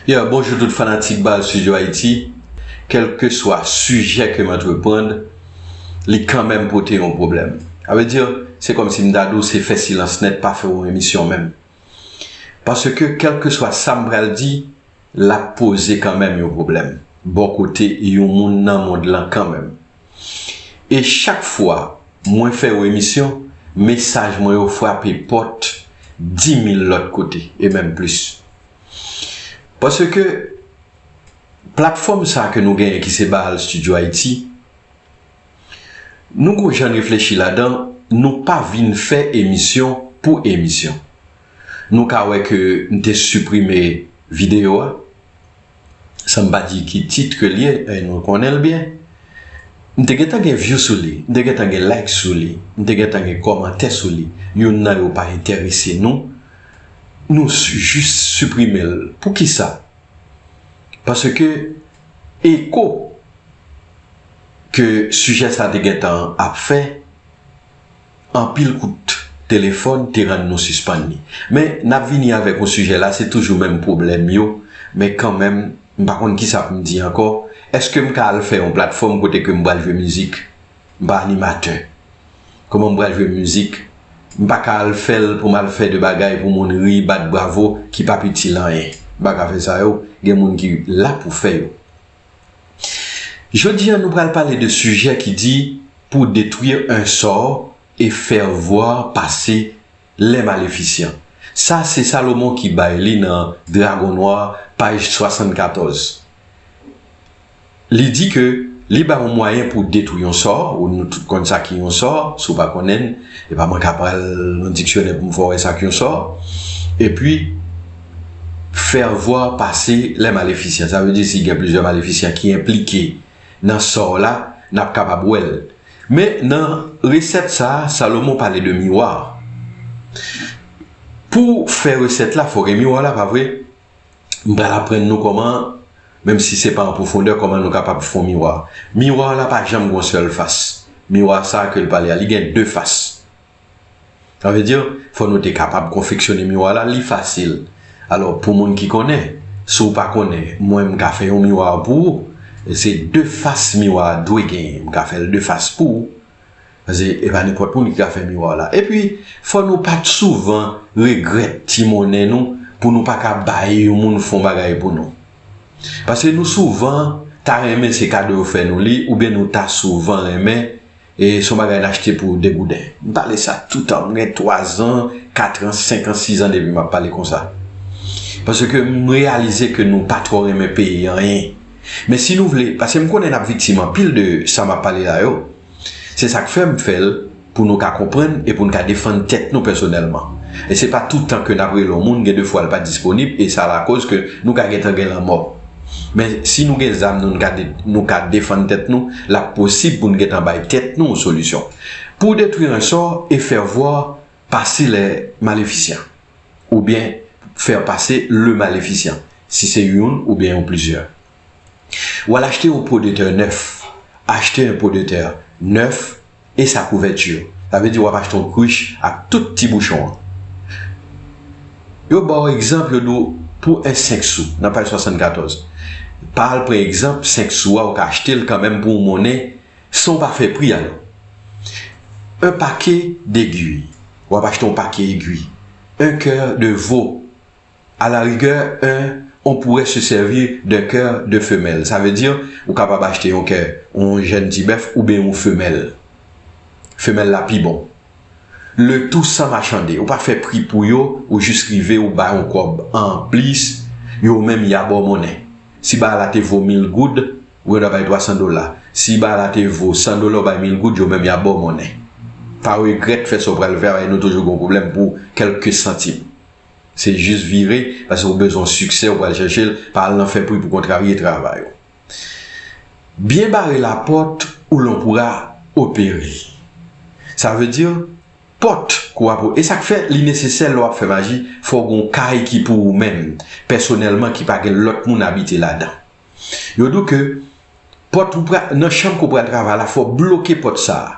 Yeah bonjou tout fanatik bal studio Haïti kelkeswa sijè kem antreprand li kanmenm pote yon pwoblèm sa vle di se kòmsi m ta di w se fè silans nèt pa fè yon emisyon menm paske kelkeswa sam pral di lap poze kanmenm yon pwoblèm bò kote yon moun nan mond lan kanmenm. E chak fwa mwen fè yon emisyon, mesaj mwen yo frape pòt di mil lòt kote, e menm plis. Paske, platfòm sa ke nou genyen ki se Baal Studio Haïti, nou gon jan n reflechi ladan, nou pa vin fè emisyon pou emisyon. Nou ka wè ke m te siprime videyo a, san m pa di ki tit ke l ye, e nou konnen l byen, m te gentan gen vyou sou li, m te gentan gen like sou li, m te gentan gen kòmantè sou li, youn nan yo pa enterese nou, nou jis siprime l. Poukisa? Paske eko ke sijè sa te gentan ap fè, Anpil kout telefòn te rann nou sispann li. Men, n ap vini avèk yon sijè la, se toujou menm pwoblèm yo, men kanmenm, m pa konn kisa pou m di ankò, èske m ka al fè yon platfòm kote ke m pral jwe mizik? M pa animatè. Kòman m pral jwe mizik? M pa ka al fè l pou m al fè de bagay pou moun ri, bat bravo, ki p ap itil anyen. M pa ka fè sa yo, gen moun ki la pou fè yo. Jodi a nou pral pale de sijè ki di pou detwir un sort et faire voir passer les maléficients. Sa se Salomon ki bay li nan Dragon noir paj 74. Li di ke li bay yon mwayen pou detwi yon sò, ou nou tout konn sa ki yon sò, si w pa konnen, e pa mwen ka pral nan diksyonè pou m fè w wè sa k yon sò. Epi. faire voir pase lè malefisyan sa vle di si gen plizyè malefisyan ki enplike nan sò w la n ap kapab wè l men nan resèt sa Salomon pale de miwa pou w fè resèt la fò gen miwa la pa vre m pral aprann nou kòman menm si se pa an pwofondè kòman nou kapab fon miwa miwa la pa janm gon sèl fas miwa sa ke l pale a li gen de fas Sa vle di, fò nou te kapab konfeksyone miwa la, li fasil. Alò, pou moun ki konnen, si w pa konnen, mwen m ka fè yon miwa pou ou. Se de fas miwa a dwe genyen. M ka fè l de fas pou ou. Pase e pa nenpòt moun ki ka fè miwa w la. Epi, fò nou pa t souvan regrèt ti monnen nou pou nou pa ka bay yon moun fon bagay pou nou. Pase nou souvan ta renmen se kado yo fè nou li oubyen nou ta souvan renmen E son bagay n achte pou 2 gouden. M pale sa toutan. M gen 3 zan, 4 ans, 5 ans, 6 ans depi m ap pale konsa. Paske m reyalize ke nou pa twò renmen peye anyen. Men si nou vle, paske m konnen n ap viktim anpil de sa m ap pale la yo. Se sa k fè m fè l pou nou ka konprann e pou n ka defann tèt nou pèsonèlman. E se pa toutan ke n ap rele yon moun, gen de fwa l pa disponib e sa lakoz ke nou ka gentan gen lanmò. Men, si nou gen zam nou, n ka nou ka defann tèt nou, l ap posib pou n gen tan bay tèt nou yon solisyon. Pou detwi rensò e faire voir passer les maléficiens oubyen faire passer le maléficient, si se youn oubyen yon plizyè. W al achte yon po de tè nèf, acheter un pot de terre neuf. E sa kouvèti yo. Sa vle di wap achte yon krich ak tout ti bouchon an. Yo baw egzanp yo di w pou 1 5 sou nan paj 74. Pa al pran egzanp 5 sou a ou ka achte l kanmenm pou w monnen san w pa fè pri a non. 1 pake d'aiguille wap achte yon pake egwi. 1 coeur de veau A la rigè, un on pourrait se servir d'un cœur de femelle, sa vle di ou kapab achte yon kè yon jèn ti bèf oubyen yon femèl. Femèl la pi bon. Le tout san machande, ou pa fè pri pou yo, ou jis rive ou ba yon kòb anplis, yo menm ya ba w monnen. Si bagay la te vo mil goud, ou gendwa bay twasan dola. Si bagay la te vo san dola ou bay mil goud, yo menm ya ba w monnen. Pa regrèt fè sa w pral fè a, paske nou toujou gen yon pwoblèm pou kèlke santim. Se jis vire, pase ou bezwen siksè ou pral chèche l, pa al nan fè pri pou kontravye travay ou. Byen bare lapòt ou lan pou ra opere. Sa vle di pòt kou a pou e sak fè li nesesè lè w ap fè maji fò w gen yon kay ki pou ou menm pèsonèlman ki pa gen lòt moun abite ladan. Yo di w ke pòt ou pral nan chanm ke w pral travay la fò w bloke pòt sa a.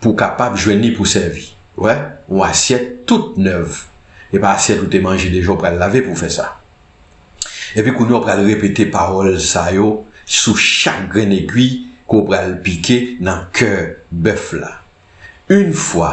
pou w kapab jwenn li pou w sèvi. Wè, yon asyèt tout nèv. E pa asyèt ou te manje deja ou pral lave pou w fè sa. Epi kounye a ou pral repete pawòl sa yo sou chak grenn egwi ke w pral pike nan kè bèf la. Yn fwa.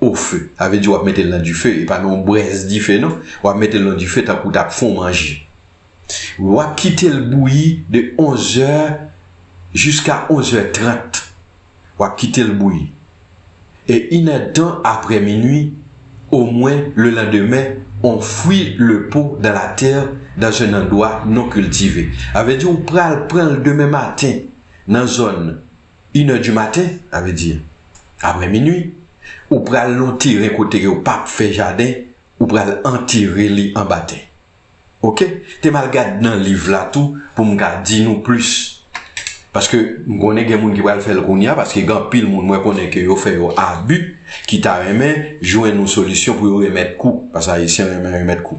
au feu sa vle di wap metel nan dife epa nan yon brèz dife non wap metel nan dife tankou ou tap fon manje wap kitel bouyi de 11 zè jiska 11 zè 30 wap kitel bouyi e inèdtan aprè minwi o mwen le landemen on fwi le po dan la tè dans un endwa non kiltive sa vle di ou pral pranl demen maten nan zòn Une heure du matin, sa vle di aprè minui, ou pral nan yon teren kote yo pa fè jaden, ou pral antere li anba tè. Ok, te m al gad nan liv la tou pou m ka di nou plis. Paske m konnen gen moun ki pral fè l kounya, paske gen anpil moun mwen konnen ke yo fè yo abi, ki ta renmen jwenn yon solisyon pou yo remèt kou, paske Ayisyen renmen remèt kou.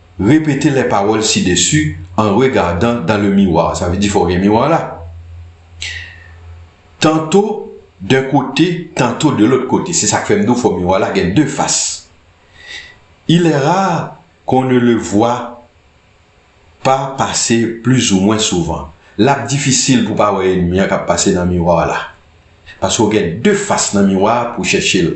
Répétez les paroles ci-dessus en regardant dans le miroir. Sa vle di fò w gen miwa la. Tanto d'un côté, tanto de l'autre côté. Se sa k fè m di w fò miwa la gen de fas. Il est rare qu'on ne le voie pas passer plus ou moins souvent. L ap difisil pou w pa wè enmi an k ap pase nan miwa w la. Paske w gen de fas nan miwa a pou w chèche l.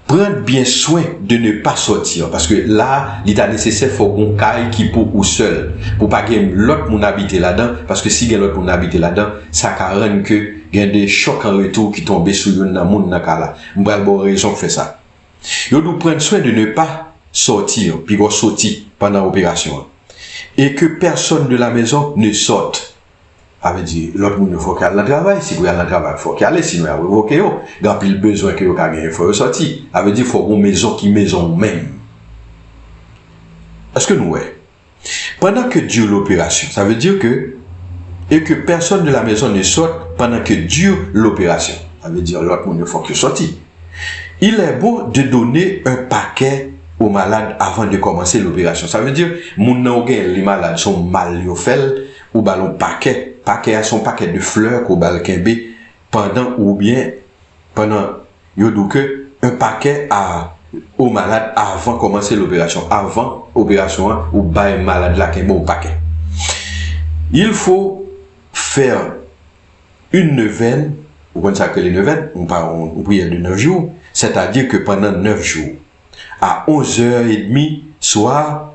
Pran byen swen de ne pa sortir paske la li ta nesesè fò gon kay ki pou ou sèl pou pa gen lòt moun abite ladan paske si gen lòt moun abite ladan sa ka rann ke gen de chòk an retou ki tonbe sou youn nan moun nan kay la m pral baw rezon k fè sa yo di w pran swen de ne pa sortir pi gò soti pandan operasyon an e ke pèsòn de la mezon ne sorte Sa vle di lòt moun yo fòk y al nan travay, si pou y al nan travay fòk y ale sinon y ap revoke yo. Gen anpil bezwen ke yo ka genyen fò yo sòti. Sa vle di fòk ou gen yon mezon ki mezon ou menm. Eske nou wè? Pandan ke dire l'opération, sa vle di ke e ke pèsòn de la mezon ne sòt pandan ke dire l'opération. Sa vle di lòt moun yo fòk yo sòti. Il è bon de done un pakè o malad avan de kòmanse l'opération. Sa vle di moun nan ou genyen li malad se yon mal yo fè l. Ou ba l yon pakè. Pakè a se yon pakè de flè ke w ba l kenbe pandan oubyen pandan yo di w ke yon pakè a yon malad avan kòmanse loperasyon. Avan operasyon an ou bay malad la kenbe yon pakè. Il faut faire une neuvaine, ou konn sa k rele neuvaine, yon pa yon priyè de 9 jou, sètadi ke pandan 9 jou a 11 è edmi swa,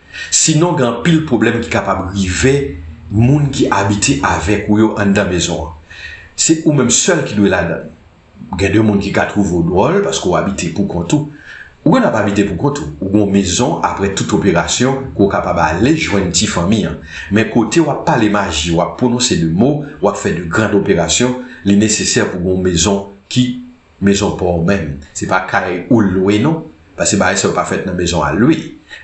Sinon gen anpil pwoblèm ki kapab rive moun ki abite avèk ou yo anndan mezon an. Se ou menm sèl ki dwe ladan l. Gen de moun ki ka twouve w dwòl paske w abite pou kont ou. Ou gentan pa abite pou kont ou. Ou gen w mezon aprè tout operasyon ke w kapab ale jwenn ti fanmi an. Men kote w ap pale maji, w ap pwononse de mo, w ap fè de grand operasyon, li nesesè pou gen w mezon ki Mezon pa w menm, se pa kay ou l lwe non, paske bagay sa yo pa fèt nan mezon a lwe.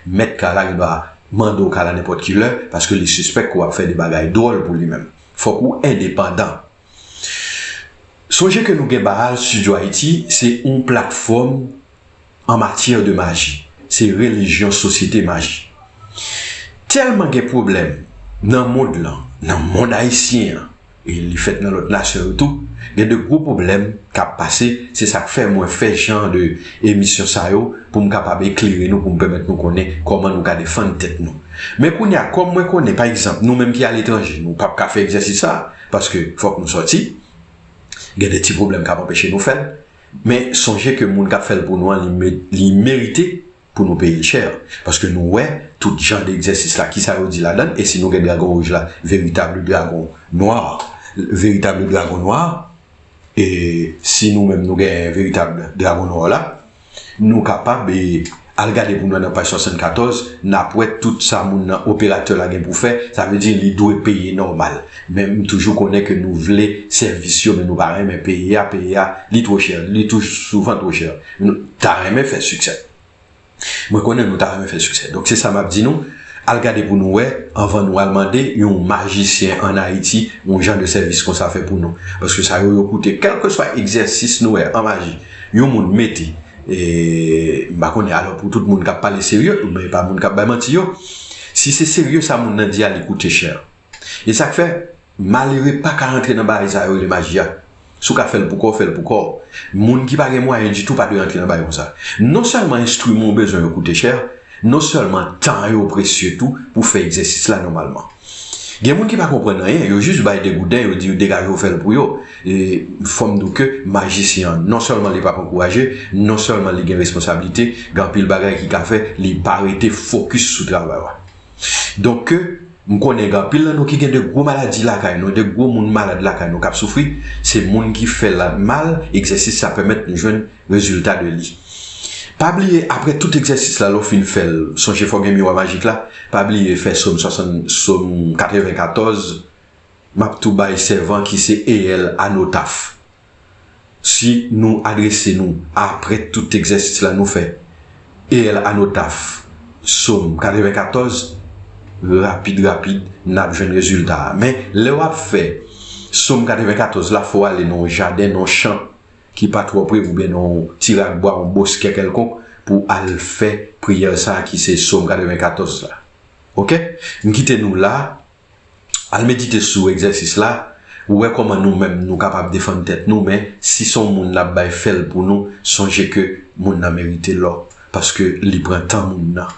Mèt kay la gen dwa mande w kay la nenpòt ki lè, paske li sispèk ke w ap fè de bagay dwòl pou li menm. Fòk ou endepandan. Sonje ke nou gen Baal Studio Haïti, se yon platfòm an matyè de maji, se relijyon sosyete maji. Tèlman gen pwoblèm nan mond lan, nan mond ayisyen an, e li fèt nan lòt nasyon yo tou, gen de gwo pwoblèm k ap pase, se sa k fè mwen fè jan de emisyon sa yo pou m kapab eklere nou, pou m pèmèt nou konnen kòman nou ka defann tèt nou. Men kounye a, kòm mwen konnen, pa egzanp, nou menm ki aletranje, nou p ap ka fè egzèsis sa a, paske fòk nou sòti, gen de ti pwoblèm k ap anpeche nou fè l. Men sonje ke moun kap fèl pou nou an li merite pou nou peyel chè paske nou wè tout jan de egzèsis la kisa yo di ladann e si nou gen dragon rouj la veritable dragon noir veritable dragon noir e si nou menm nou gen veritable dragon noir la nou kapab e Al gade pou mwen nan paj 74, nap wè tout sa moun nan operatè la gen pou fè, sa vle di li dwe peye nòmal. Men m toujou konnen ke nou vle sèvis yo men nou pa renmen peye a, peye a li two chè, li tou souvan two chè. Nou ta renmen fè siksè. Mwen konnen nou ta renmen fè siksè. Donk se sa map di nou, al gade pou nou wè anvan nou al mande yon majisyen an Ayiti yon jan de sèvis konsa fè pou nou. Paske sa yo yo koute. Kèlkeswa egzèsis nou wè an maji yon moun mete. E m pa konnen alò pou tout moun k ap pale serye, oubyen e pa moun k ap bay manti yo, si se serye sa moun nan di a li koute chè. E sa k fè, malere pa ka antre nan bagay sa yo rele maji a. Si w ka fè l pou kò w, fè l pou kò w. Moun ki pa gen mwayen ditou pa dwe antre nan bagay konsa. Non sèlman enstriman ou bezwen yo koute chè, non sèlman tan yo presye tou pou fè egzèsis la nòmalman. Gen moun ki pa konprann anyen, yo jis bay degouden, yo di yo degaje w fè l pou yo. E fò m di w ke majisyen an, non sèlman li pa p ankouraje, non sèlman li gen responsablite, gen anpil bagay ki ka fè li pa rete fokis sou travay la. Donk ke m konnen gen anpil nan nou ki gen de gwo maladi lakay nou, de gwo moun malad lakay nou k ap soufri, se moun ki fè l mal, egzèsis sa pèmèt nou jwenn Rezilta de li. Pa bliye apre tout egzèsis la lè w fin fè l sonje fè w gen miwa majik la, pa bliye fè som 94 m ap tou bay sèvan ki se EL a no taf. Si nou adrese nou apre tout egzèsis la nou fè EL a no taf som 94 rapid rapid n ap jwenn rezilta a men lè w ap fè som 94 la fò w ale nan yon jaden nan yon chan ki pa twò pre oubyen nan yon ti rak bwa, yon boskè kèlkonk pou w al fè priyè sa a ki se Som 94 la. Ok? M kite nou la, al medite sou egzèsis la, ou wè kòman nou menm nou kapab defann tèt nou men si s on moun n ap bay fè l pou nou sonje ke moun nan merite lò paske li pran tan moun nan.